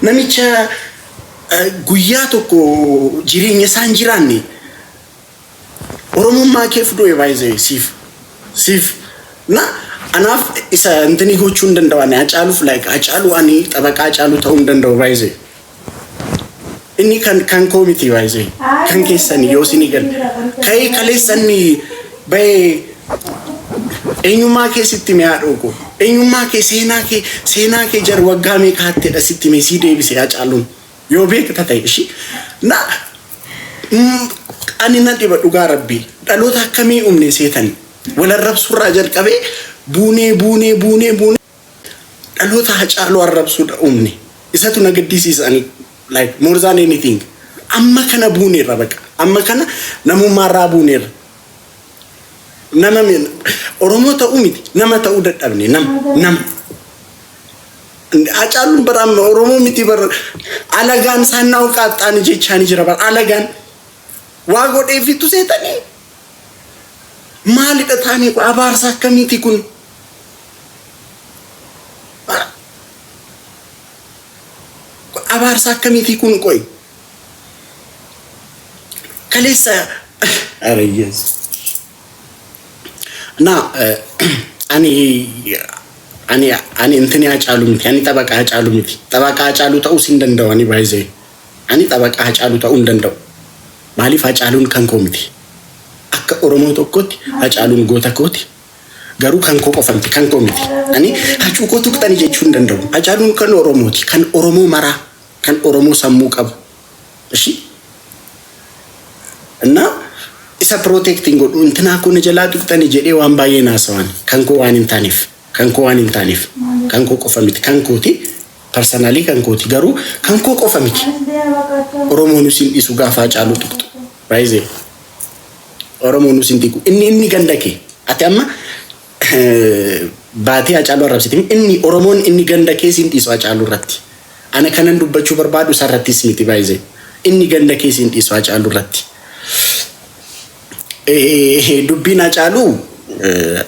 Namicha guyyaa tokko jireenya isaa hin jiraanne oromummaa keef du'e baay'ee siif siif na anaaf isa intini gochuu hin danda'u ani hacaaluuf like hacaaluu ani xabaqaa hacaaluu ta'uu hin danda'u baay'ee inni kan kan koo miti baay'ee kan keessani yoo isinii galu ka'ee kaleessa inni Bayee Eenyummaa kee sitti hime haadhoo koo. Eenyummaa kee seenaa kee seenaa kee jar waggaa meeqa hattedha sitti hime sii deebise yaa caalluun. Yoo beekta ta'e ishii. Na mm, ani na dhiba dhugaa rabbii. Dhaloota akkamii umne seetani. Wal arrabsurraa jalqabee buunee buunee buunee buunee. Dhaloota Hacaaluu arrabsuudha uumne. Isatu na gaddisiisa ani like more than anything. Amma kana buuneerra baqa. Amma kana namummaarraa buuneerra. Nama mi- Oromoo ta'uu miti nama ta'uu dadhabne nama nama. Hacaaluun bara amma Oromoo miti bara alagaan saannaa uqaaxxaani jechaani jira bara alagaan waa godheefitu seetanii Maalidha taanii kun abaarsa akkamiitii kun? Abaarsa akkamiitii kun qoy? Kaleessa arayyees. Na ani ani ani intini hacaalu miti ani xabaqaa hacaalu miti xabaqaa hacaalu ta'uu sin danda'u ani baay'ee. Ani xabaqaa Hacaaluu ta'uu hin danda'u. Maaliif Hacaaluun kan koo miti. Akka Oromoo tokkootti Hacaaluun goota kooti. Garuu kan koo qofa miti, kan koo miti. Ani Hacuu koo tuqxani jechuu hin danda'u. Hacaaluun kan Oromooti, kan Oromoo maraa, kan Oromoo sammuu qabu. Ishi? Innaa isa protect hin godhu. Intinaa koo na jalaa tuqxani jedhee waan baay'ee hin haasawaan. Kan koo waan hin taaneef, kan koo waan hin taaneef, kan koo qofa miti, kan kooti. Personally kan kooti garuu kan koo qofa miti. Oromoo nus hin dhisu gaafa Hacaaluu tuqxu. Raizee. Oromoo nus hin dhiqu. Inni inni ganda kee. Ati amma baatee Hacaaluu arrabsite miti. Inni Oromoon inni ganda kee siin dhiisu Hacaaluu irratti. Ana kanan dubbachuu barbaadu isa irrattis miti baay'ee. Inni ganda kee siin dhiisu Hacaaluu irratti. Dubbiin Hacaaluu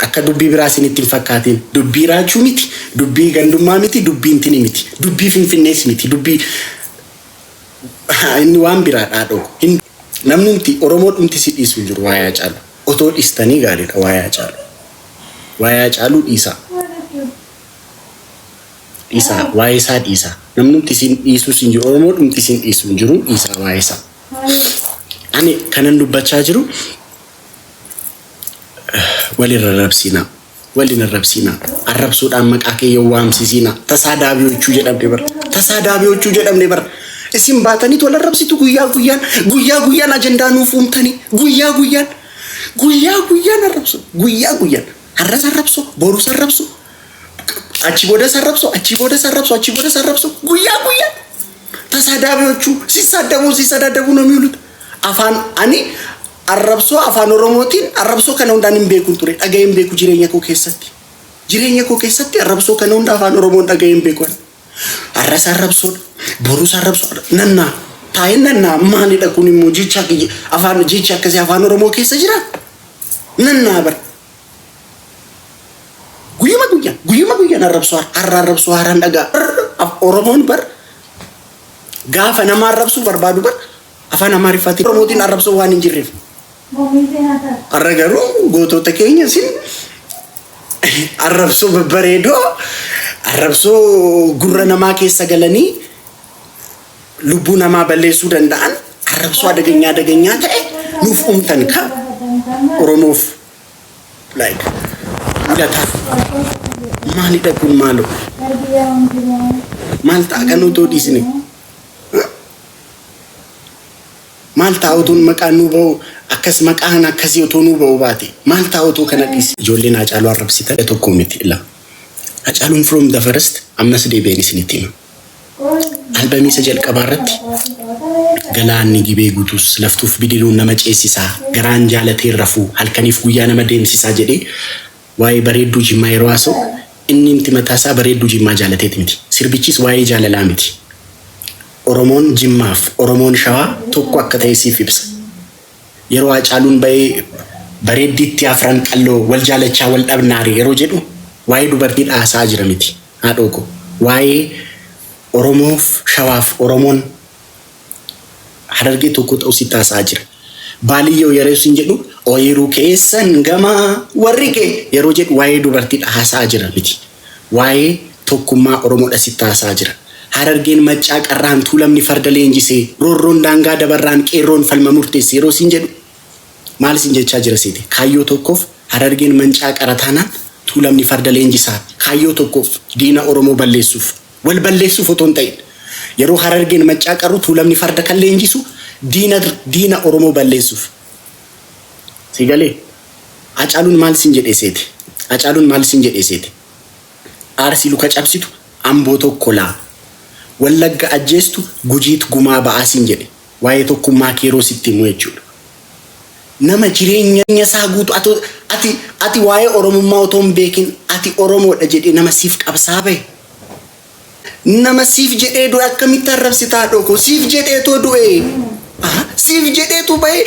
akka dubbii biraa isinitti hin fakkaatiin. Dubbii raachuu miti, dubbii gandummaa miti, dubbii intini miti, dubbii finfinnees miti, dubbii inni waan biraa dhaadhoo. Hin namnumti Oromoo dhumti si dhiisu hin jiru waa'ee Hacaaluu. Otoo dhiistanii gaariidha waa'ee Hacaaluu. Waa'ee Hacaaluu dhiisaa. Dhiisaa waa'ee isaa dhiisaa. Namnumti isin dhiisus hin jiru Oromoo dhumti isin dhiisu hin jiru dhiisaa waa'ee isaa. Ani kanan dubbachaa jiru wal hin arrabsiinaa. Wal hin arrabsiinaa. Arrabsuudhaan maqaa kee yoo waamsisiinaa. Tasaa daabiyoochuu jedhamne bara. Tasaa daabiyoochuu jedhamne bara. Isin baataniit wal arrabsitu guyyaa guyyaan. Guyyaa guyyaan ajandaa nuuf uumtanii. Guyyaa guyyaan. Guyyaa guyyaan arrabsu. Guyyaa guyyaan. Har'as arrabsu. Borus arrabsu. Achi boodas arrabsu. Achi boodas arrabsu. Achi boodas arrabsu. Guyyaa guyyaan. Tasaadaabiyochu sisaadabu sisaadaadabu ነው የሚውሉት afaan ani arrabsoo afaan oromootiin arrabsoo kana hundaan hin beekun ture dhaga'ee hin beeku jireenya koo keessatti jireenya koo keessatti arrabsoo kana hunda afaan oromoon dhaga'ee hin beeku ani. arras arrabsoodha borus arrabsoodha nannaa taa'ee nannaa maalidha kun immoo jecha kiyya- afaan jechi akkasii afaan oromoo keessa jira nannaa bara Guyyuma guyyaan guyyuma guyyaan arrabsoo har- har'a arrabsoo haaraan dhagaa Har'a Oromoon bar gaafa nama arrabsuu barbaadu bar afaan Amaariffaatiin Oromootiin arrabsoo waan hin jirreef. Har'a garuu gootota keenya isin arrabsoo babbareedoo arrabsoo gurra namaa keessa galanii lubbuu namaa balleessuu danda'an arrabsoo adageenyaa adageenyaa ta'e nuuf uumtan ka Oromoof Like. Mul'ata. Maalidha kun maaloo? Maal ta'a kan otoo dhiisne? Maal ta'a otoo maqaan nuu ba'u akkas maqaan akkasii otoo nuu ba'u baate maal ta'a otoo kana dhiisne? Ijoolleen Hacaaluu arrabsitan tokko miti lama. Hacaaluun from the first ammas deebi'een isinitti hima. Albamii isa jalqabaa irratti Galaanni gibee guutus laftuuf bidiruun nama ceessisaa garaan jaalatee hin rafuu halkaniif guyyaa nama deemsisaa jedhee waa'ee bareedduu Jimmaa yeroo haasa'u innimti mataa isaa bareedduu Jimmaa jaalateeti miti. Sirbichis waa'ee jaalalaa miti. Oromoon Jimmaaf Oromoon Shawaa tokko akka ta'e siif ibsa. Yeroo Haacaaluun ba'ee bareeddiitti afran qalloo wal jaalachaa wal dhabnaare yeroo jedhu waa'ee dubartiidha haasa'aa jira miti. Haadhoo koo. Waa'ee Oromoof Shawaaf Oromoon Harargee tokkoo ta'uu sitti haasa'aa jira. Baaliyyoo yeroo sin jedhu ooyiruu keessan gamaa warri kee yeroo jedhu waa'ee dubartiidha haasa'aa jira miti. Waa'ee tokkummaa Oromoodha sitti haasa'aa jira. Harargeen Maccaa Qarraan Tuulamni farda leenjisee, Roorroon daangaa dabarraan qeerroon falma murteesse yeroo sin jedhu Maal sin jechaa jira seete kaayyoo tookkoof Harargeen mancaa qara taanaan Tuulamni farda leenjisaa kaayyoo tookkoof diina Oromoo balleessuuf wal balleessuuf otoo hin ta'iin yeroo Harargeen mancaa qarru Tuulamni farda kan leenjisu diina diina Oromoo balleessuuf sii galee Hacaaluun maal sin jedhee seete Hacaaluun maal sin jedhee seete Arsii luka cabsitu Amboo tokkolaa Wallagga ajjeestu Gujiit gumaa ba'aa sin jedhe Waa'ee tokkummaa kee yeroo sitti himu jechuudha. Nama jireenya isaa guutuu ati, ati, ati waa'ee Oromummaa otoo hin beekin ati Oromoodha jedhee nama siif qabsaa bahe, nama siif jedhee du'e akkamitti arrabsita haadhoo koo? Siif jedheetoo du'e. Aha, siif jedheetu bahe.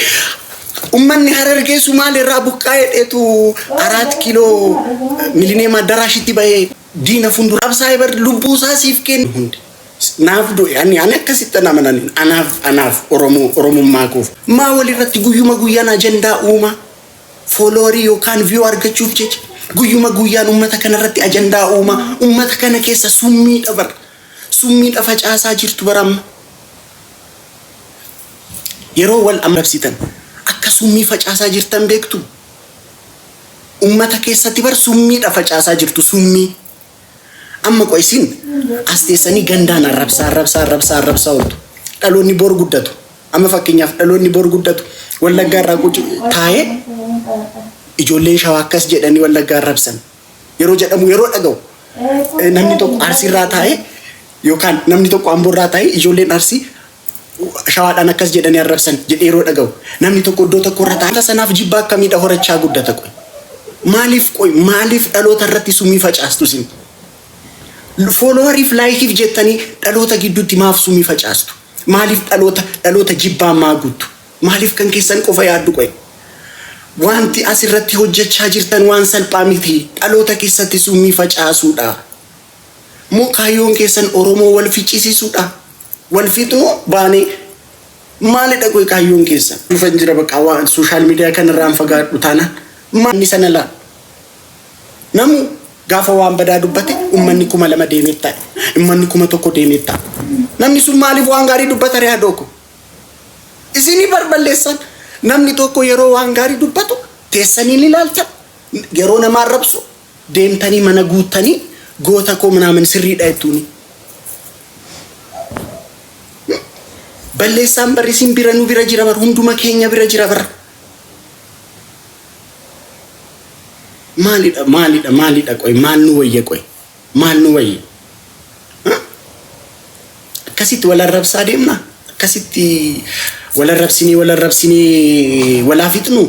Ummanni Harargee Sumaalee irraa buqqaa'ee dheetu Araat Kiiloo Milineem Addaraashitti bahee. Diina fundura absaa'e bar lubbuu isaa siif kenne hundi. Naaf du'e ani ani akkasitti ana mananiin anaaf anaaf oromoo oromummaa koof maa walirratti guyyuma guyyaan ajandaa uumaa fooloorii yookaan viyuu argachuuf jecha guyyuma guyyaan ummata kanarratti ajandaa uumaa ummata kana keessa summiidha bar summiidha facaasaa jirtu bar amma yeroo wal amrabsitan akka summii facaasaa jirtan beektu Ummata keessati bar summiidha facaasaa jirtu summii Amma qoy isin as teessanii gandaan arrabsaa arrabsaa arrabsaa arrabsaa oltu dhaloonni bor guddatu Amma fakkeenyaaf dhaloonni bor guddatu wallaggaa irraa quc taa'ee ijoolleen shawaa akkas jedhanii wallaggaa arrabsan yeroo jedhamu yeroo dhaga'u namni tokko arsii irraa taa'ee yookaan namni tokko amboo irraa taa'ee ijoolleen arsii Shawaadhaan akkas jedhanii arrabsan jedhee yeroo dhaga'u namni tokko iddoo tokko irra taa'ee sanaaf jibba akkamiidha horachaa guddata qoy maaliif qoy maaliif dhaloota irratti summii facaastu isin foolowariif laayikiif jettanii dhaloota gidduutti maaf summii facaastu maaliif dhaloota dhaloota jibbaan maa guuttu maaliif kan keessan qofa yaaddu qoy wanti as irratti hojjechaa jirtan waan salphaa miti dhaloota keessatti summii facaasuudha. Moo kaayyoon keessan Oromoo wal ficisiisuudha? Wal fixnuu baanee maalidha qoy kaayyoon keessan? Dhufan jira baqaa waan social media kana irraan fagaadhu taanaan maanni sana laa namu gaafa waan badaa dubbate ummanni kuma lama deemee taa'e ummanni kuma tokko deemee taa'e namni sun maaliif waan gaarii dubbata ree hadoo ko isinii barballeessan namni tokko yeroo waan gaarii dubbatu teessanii ni ilaaltan yeroo namaa rabsu deemtanii mana guuttanii goota koo minaamin sirriidha jettuuni. Balleessaan barri isin bira nu bira jira bar hunduma keenya bira jira bar. Maalidha maalidha maalidha qoy maal nu wayya qoy maal nu wayya. Akkasitti wal arrabsaa deemna akkasitti wal arrabsinee wal arrabsinee walaa fixnu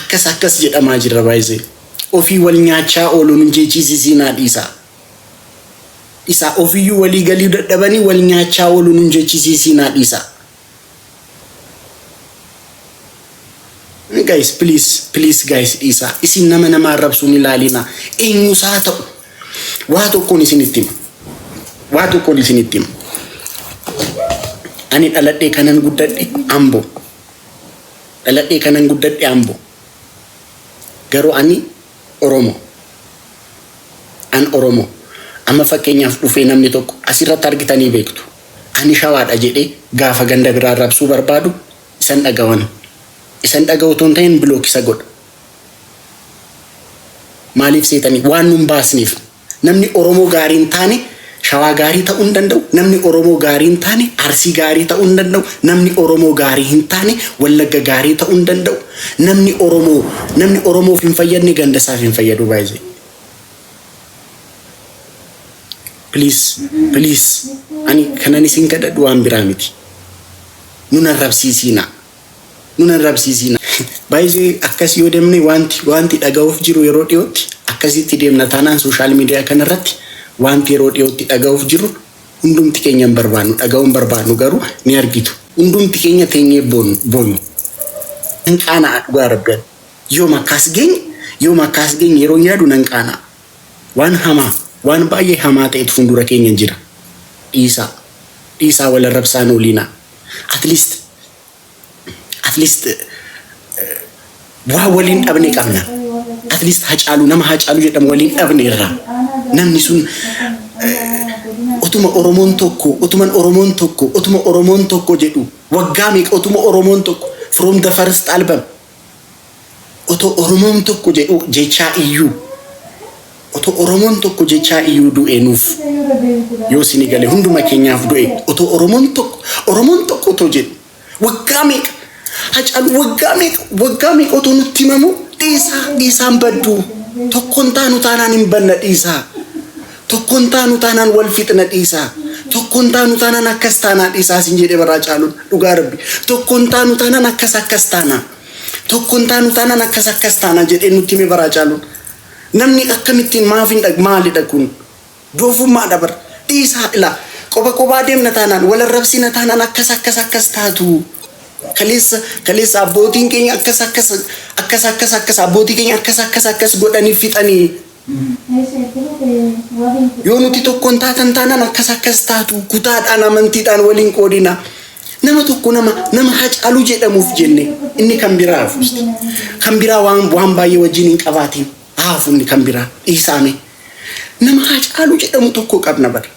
Akkas akkas jedhamaa jirra baay'isee. Ofii wal nyaachaa ooluu nu jechiisisiinaa dhiisaa. Dhisaa ofiyyuu walii galii dadhabanii wal nyaachaa ooluu nu jechiisisiinaa dhiisaa. Guys please please guys dhiisaa. Isin nama nama arrabsuun ilaaliinaa. Eenyus haa ta'u. Waa tokkoon isinitti hima. Waa tokkoon isinitti hima. Ani dhaladhee kanan guddadhe Ambo. dhaladhee kanan guddadhe Ambo garuu ani oromo an oromo amma fakkeenyaaf dhufee namni tokko asirratti argitanii beektu ani shawaadha jedhee gaafa ganda biraa arrabsuu barbaadu isan dhagawani isan dhagawu otoo hin tahin block isa godha maaliif seetanii waan nun baasneef. Namni Oromoo gaarii hin taane Shawaa gaarii ta'uu hin danda'u, namni Oromoo gaarii hin taane Arsii gaarii ta'uu hin danda'u, namni Oromoo gaarii hin taane Wallagga gaarii ta'uu hin danda'u, namni Oromoo namni Oromoof hin fayyadne ganda isaaf hin fayyadu by the please please ani kanan isin kadhadhu waan biraa miti nun arrabsiisiinaa. nun arrabsiisiin. By the way akkas yoo demne waanti waanti dhaga'uuf jiru yeroo dhiyootti akkasitti deemna taanaan social media kana irratti waanti yeroo dhiyootti dhaga'uuf jiru hundumti keenya hin barbaannu dhaga'uu hin barbaannu garuu ni argitu hundumti keenya teenyee boonyu nan qaana'a dhugaa rabbi ani yoom akkaas geenye yoom akkaas geenye yeroon yaadu nan qaana'a waan hamaa waan baay'ee hamaa ta'etu fuuldura keenya jira dhiisaa dhiisaa wal arrabsaan ooliinaa at least at least waa waliin dhabne qabna at least hacaalu nama hacaalu jedhamu waliin dhabne irraa namni sun utuma oromoon tokko utuman oromoon tokko utuma oromoon tokko jedhu waggaa meeqa utuma oromoon tokko from the first album Otoo oromoon tokko jedhuu jechaa iyyuu Otoo oromoon tokko jechaa iyyuu du'e nuuf yoo sini gale hunduma keenyaaf du'e otoo oromoon tokko oromoon tokko otoo jedhu waggaa meeqa hacaalu waggaa meeqa waggaa meeqa otoo nutti himamu dhiisaa dhiisaan badduu tokkoon taanu taanaan hin banna dhiisaa Tokko hin taanu taanaan wal fixna dhiisaa. Tokko hin taanu taanaan akkas taanaa dhiisaa sin jedhee baraa caaluun dhugaa rabbi. Tokko hin taanu taanaan akkas akkas taanaa. Tokko hin taanu taanaan akkas akkas taanaa jedhee nutti hime baraa caaluun. Namni akkamittiin maaf hin dhag maalidha kun? Doofummaadha bar. Dhiisaa ilaa. Qoba qobaa deemna taanaan wal arrabsina taanaan akkas akkas akkas taatu. Kaleessa kaleessa abbootiin keenya akkas akkas akkas akkas akkas abbootii keenya akkas akkas akkas godhanii fixanii. Yoo nuti tokko hin taatan taanaan akkas akkas taatu kutaadhaan amantiidhaan waliin qoodina. Nama tokko nama nama hacaaluu jedhamuuf jenne inni kan biraa hafuusti. Kan biraa waan waan baay'ee wajjin hin qabaatiin haafu inni kan biraa dhiisaame. Nama hacaaluu jedhamu tokko qabna bara.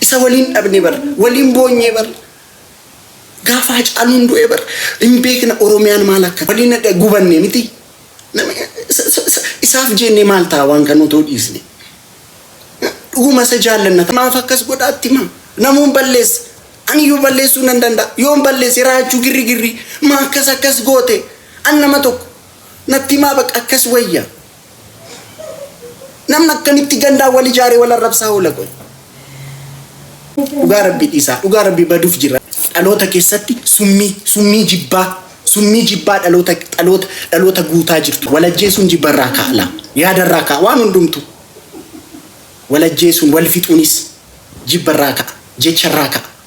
Isa waliin dhabne bara. Waliin boonyee bara. Gaafa Hacaaluun du'e bar hin beekna Oromiyaan maal akka waliin adda gubanne miti. Nama- isa- isa- isa- Isaaf jeennee maal ta'a waan kan otoo dhiisne. Dhuguma isa jaallanna. Maaf akkas godhaatti maa? Namuun balleessa. Aniyyuu balleessuu nan danda'a. Yoon balleesse raachuu girri girri. Maa akkas akkas goote? An nama tokko. Natti maa bakka akkas wayya. Namni akkamitti gandaa wal ijaaree wal arrabsaa oola qoy. Dhugaa rabbii dhiisaa. Dhugaa rabbii baduuf jira. Dhaloota keessatti summii summii jibbaa summii jibbaa dhaloota dhaloota dhaloota guutaa jirtu. Wal ajjeesuun jibbarraa ka'a lama. Yaadarraa ka'a waan hundumtu. Wal ajjeesuun wal fixuunis jibbarraa ka'a jecharraa ka'a.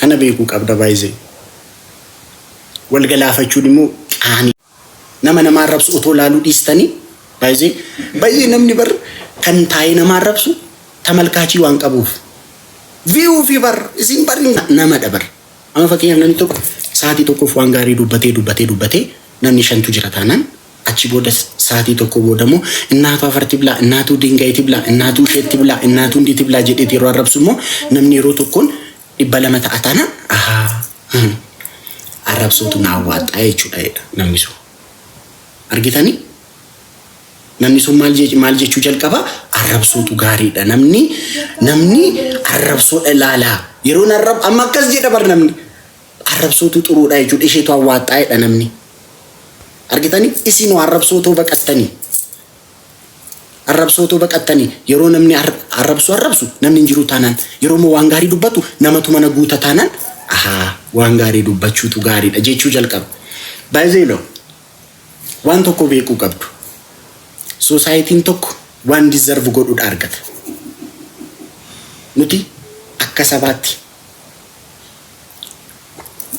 Kana beekuu qabda by the Wal galaafachuun immoo qaanii. Nama nama arrabsu otoo laaluu dhiistanii by the Bayyee namni bar kan taa'ee nama arrabsu tamalkaachii waan qabuuf view fi bar isin bar namadha bar Amma fakkeenyaaf namni tokko sa'aatii tokkoof waan gaarii dubbatee dubbatee dubbatee namni shantu jira taanaan Achii booda saatii tokkoo booda immoo innaatu afarti blaa, innaatuu diingaiti blaa, innaatuu isheetti blaa, innaatuu ndiiti blaa jedheeti yeroo arrabsu immoo namni yeroo tokkoon dhibba lama ta'a taana ahaa hmm, arrabsootu na awwaaxxaa jechuudha jedha namni sun. Argitanii? Namni sun maal je- maal jechuu jalqaba arrabsootu gaariidha namni namni arrabsoodha ilaalaa yeroo narrab amma akkas jedha bar namni Arrabsootu xuruudha jechuudha isheetu awwaaxxaa jedha namni. Argitani isiinoo arrabsootoo baqattani. Arrabsootoo baqattani yeroo namni arrabsu arrabsu namni hin jiru taanaan yeroo immoo waan gaarii dubbatu namatu mana guuta taanaan ahaa waan gaarii dubbachuutu gaariidha jechuu jalqaba. Baayizeeloo waan tokko beekuu qabdu. Soosaayitiin tokko waan dizarvu godhudha argata. Nuti akka sabaatti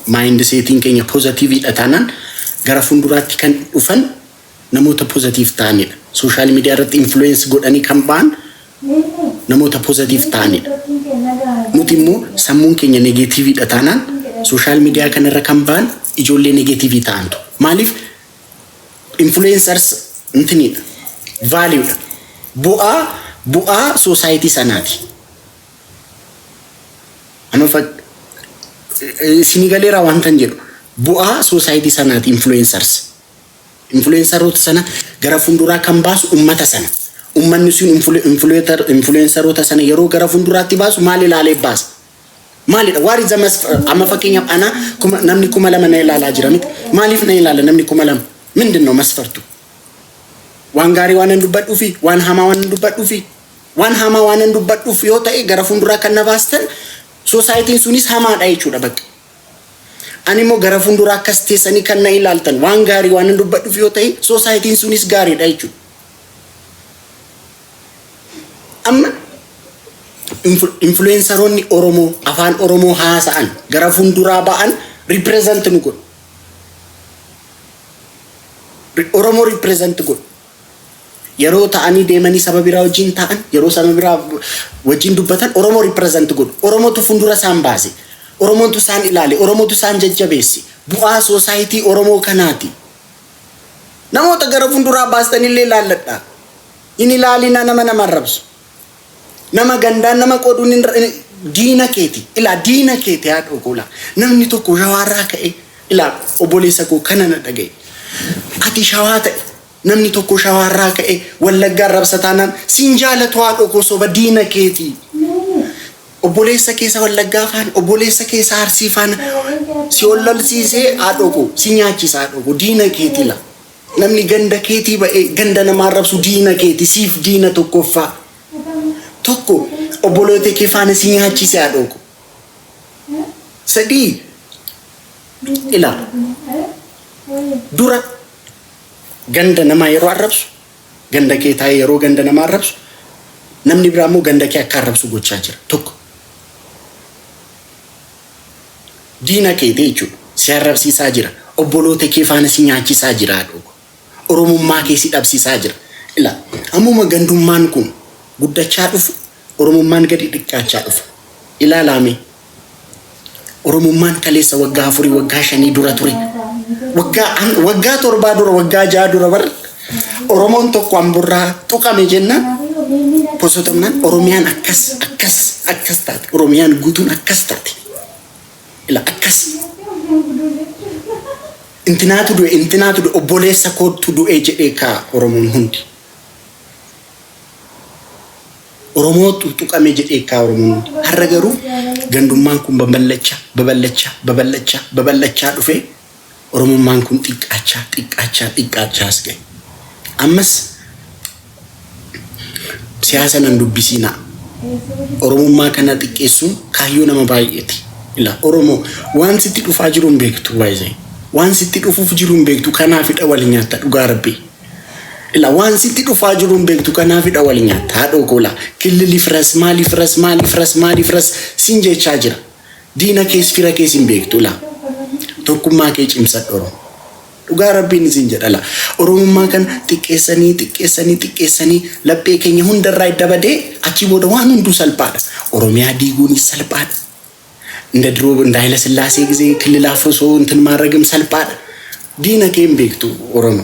maayindi seetiin keenya pozatiiviidha taanaan gara fuulduraatti kan dhufan namoota pozatiif ta'anidha. Sooshaal miidiyaa irratti influence godhanii kan ba'an namoota pozatiif ta'anidha. Nuti immoo sammuun keenya negeetiiviidha taanaan sooshaal miidiyaa kanarra kan ba'an ijoollee negeetiivii ta'antu. Maaliif influencers intiniidha. Vaaliidha. Bu'aa bu'aa soosaayitii sanaati. Anoo fa- eh, isinii galeeraa waan tan jedhu bu'aa soosaayitii sanaati influencers. Influenceroota sana gara fuulduraa kan baasu ummata sana. Ummanni sun influ- influencer- influenceroota sana yeroo gara fuulduraatti baasu maal ilaalee baasa? Maalidha? Waar is the mas- amma fakkeenyaaf ana kuma, namni kuma lama na ilaalaa jira miti. Maaliif na ilaala namni kuma lama? Mindin no masfartu? Waan gaarii waan hin dubbadhuufi? Waan hamaa waan hin dubbadhuufi? Waan hamaa waanan dubbadhuuf yoo ta'e gara fuulduraa kan na baastan soosaayitiin sunis hamaadha jechuudha bakka. Animmoo gara fuulduraa akkas teessanii kan na ilaaltan waan gaarii waanan dubbadhuuf yoo ta'e soosaayitiin sunis gaariidha jechuudha. Amma influensaroonni Oromoo afaan Oromoo haasa'an gara fuulduraa ba'an represent nu godhu. Oromoo represent godhu. Yeroo ta'anii deemanii saba biraa wajjin taa'an, yeroo saba biraa wajjin dubbatan Oromoo represent godhu. Oromootu fuuldura isaan baase. Oromootu isaan ilaale. Oromootu isaan jajjabeesse. Bu'aa society Oromoo kanaati. Namoota gara fuulduraa baastanillee ilaalladha. Hin ilaalina nama nama arrabsu. Nama gandaan nama qooduun hin ra- hin- diina keeti ilaa diina keeti haadhoo koo ilaa namni tokko shawaarraa ka'ee ilaa obboleessa koo kana na dhaga'i ati shawaa ta'e namni tokko shawaarraa ka'ee wallaggaa arrabsa taanaan siin jaalatu haadhoo koo soba diina keeti obboleessa keessa wallaggaa faana obboleessa keessa arsii faana si wallolsiisee haadhoo koo si nyaachisa haadhoo koo diina keeti ilaa Namni ganda keetii ba'ee ganda namaa arrabsu diina keeti siif diina tokkoffaa tokko obboloota kee faana si nyaachiise haadhoo koo sadii ilaa dura ganda namaa yeroo arrabsu ganda kee taa'ee yeroo ganda namaa arrabsu namni biraa immoo ganda kee akka arrabsu gochaa jira tokko Diina keeti jechuudha. Si arrabsiisaa jira. Obboloota kee faana si nyaachisaa jira haadhoo koo. Oromummaa kee si dhabsiisaa jira. Ilaa ammuma gandummaan kun guddachaa dhufu Oromummaan gadi xiqqaachaa dhufa. Ilaalaa mee Oromummaan kaleessa waggaa afurii waggaa shanii dura ture. Waggaa an- waggaa torbaa dura waggaa ja'a dura bar Oromoon tokko amburraa tuqame jennaan posotamnaan Oromiyaan akkas akkas akkas taate Oromiyaan guutuun akkas taate ila akkas intinaatu du'e intinaatu du'e obboleessa koottu du'e jedhee kaa Oromoon hundi Oromootu tuqame jedhee kaa Oromoon hundi har'a garuu gandummaan kun babal'achaa babal'achaa babal'achaa babal'achaa dhufee Oromummaan kun xiqqaachaa, xiqqaachaa, xiqqaachaa as gahe. Ammas siyaasa nan dubbisiinaa. Oromummaa kana xiqqeessuun kaayyoo nama baay'eeti. Ila Oromoo waan sitti dhufaa jiru hin beektu baay'ee. Waan sitti dhufuuf jiru hin beektu kanaafidha wal nyaatta dhugaa rabbii. Ila waan sitti dhufaa jiru hin beektu kanaafidha wal nyaatta haadhoo koo laa killiliif ras maaliif ras maaliif ras maaliif ras siin jechaa jira. diina kees fira kees hin beektu la tokkummaa kee cimsadhu oromo dhugaa rabbiin isin jedha la oromummaa kana xiqqeessanii xiqqeessanii xiqqeessanii laphee keenya hundarraa edda badee achii booda waan hunduu salphaadha oromiyaa diiguunis salphaadha inda diroo inda hayila sillaasee gisee killilaaf osoo intin maarragim salphaadha diina kee hin beektu oromo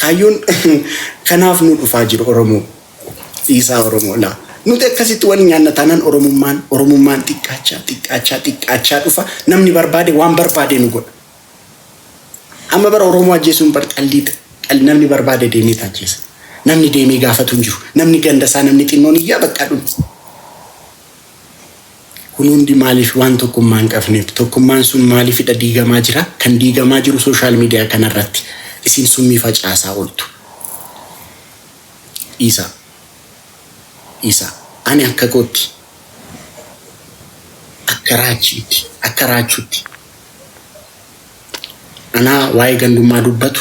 Kaayyoon kanaaf nu dhufaa jiru Oromoo dhiisaa Oromoo laa nuti akkasitti wal nyaanna taanaan Oromummaan Oromummaan xiqqaachaa xiqqaachaa xiqqaachaa dhufa namni barbaade waan barbaade nu godha. Amma bara Oromoo ajjeesuun bar xallii xal namni barbaade deemee taajjeessa. Namni deemee gaafatu hin jiru. Namni ganda isaa namni xinnoon iyyaa baqqaa dhumti. Kun hundi maaliif waan tokkummaa hin qabneef. Tokkummaan sun maaliifidha diigamaa jira? Kan diigamaa jiru social media kana irratti isin summii facaasaa oltu. Dhiisaa. Dhiisaa. Ani akka kootti akka raachiitti akka raachuutti anaa waa'ee gandummaa dubbatu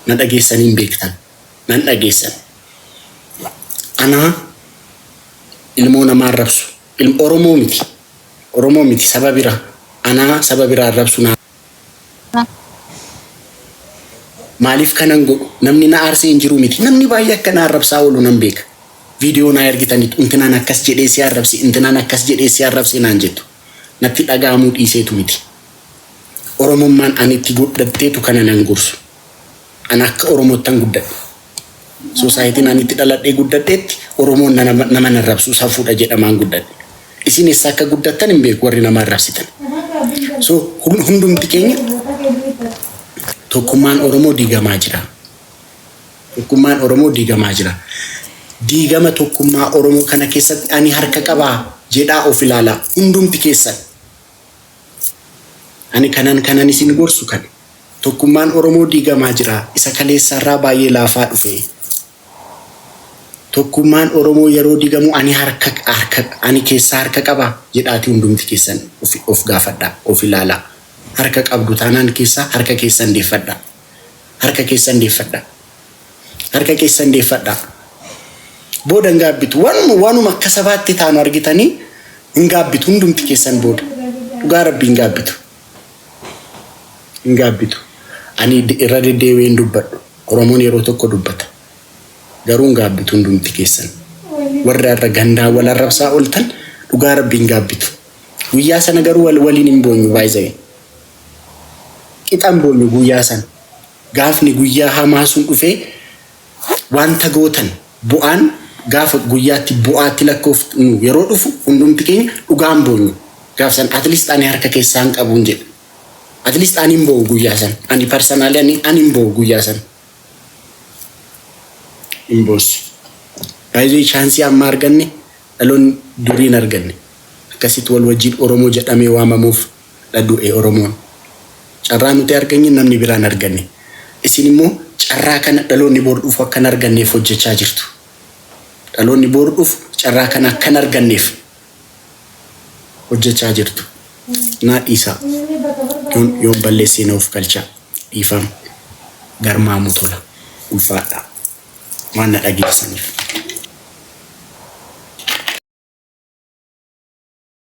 na dhageessanii hin beektan. nan dhageessan anaa ilmoo namaa arrabsu ilm oromoo miti oromoo miti saba bira anaa saba bira arrabsu naa maaliif kanan godhu namni na aarsee hin jiru miti namni baay'ee akka na arrabsaa oolu nan beeka viidiyoo naa ergitanitu intinaan akkas jedhee si arrabse intinaan akkas jedhee si arrabse naan jettu natti dhaga'amuu dhiiseetu miti oromummaan ani itti godhatteetu kana nan gorsu An akka Oromoottan guddadhe. Society'n an itti dhaladhee guddadheetti Oromoon nama nama hin arrabsu safuudha jedhamaan guddadhe. Isin essa akka guddattan hin beeku warri nama arrabsitan. So hundumti keenya tokkummaan Oromoo diigamaa jira. Tokkummaan Oromoo diigamaa jira. Diigama tokkummaa Oromoo kana keessatti ani harka qabaa jedhaa of ilaalaa hundumti keessan. Ani kanan kanan isin gorsu kana. Tokkummaan Oromoo diigamaa jira. Isa kaleessaarraa baay'ee laafaa dhufe. Tokkummaan Oromoo yeroo digamu ani harka harka ani keessaa harka qaba? jedhaati hundumti keessan of gaafadhaa, of ilaalaa. Harka qabdu taanaan keessaa harka keessan deeffadhaa. Harka keessan deeffadhaa. Harka keessan deeffadhaa. Booda hin gaabbitu. Waan waanuma akka sabaatti taanu argitanii hin gaabbitu hundumti keessan booda. Dhugaa rabbi hin gaabbitu. Hin gaabbitu. Ani de- irra deddeebi'ee hin dubbadhu. Oromoon yeroo tokko dubbata. Garuu hin gaabbitu hundumti keessan. Warri har'a gandaa wal arrabsaa ooltan dhugaa rabbi hin gaabbitu. Guyyaa sana garuu wal waliin hin boonyu baay'ee. qixan boonyu guyaa san gaafni guyaa hamaa sun dhufee wanta gootan bu'aan gaafa guyaatti bu'aatti lakkoofnu yeroo dhufu hundumti keenya dhugaan boonyu gaaf san at least ani harka keessaan qabuun jedhe at least ani hin boo'u guyaa san ani personally ani ani hin boo'u guyaa san hin boossu baay'ee chaansii amma arganne dhaloonni durii hin arganne akkasitti wal wajjiin oromoo jedhamee waamamuuf dha du'e Oromoon. Carraa nuti arganye namni biraa hin arganne. Isin immoo carraa kana dhaloonni bor dhufu akka hin arganneef hojjechaa jirtu. Dhaloonni bor dhufu carraa kana akka hin arganneef hojjechaa jirtu. Naa dhiisaa. Yoon yoon balleessee na ofkalchaa. Dhiifama. Garmaamuu Tola. Ulfaadhaa. Waan na dhageessaniif.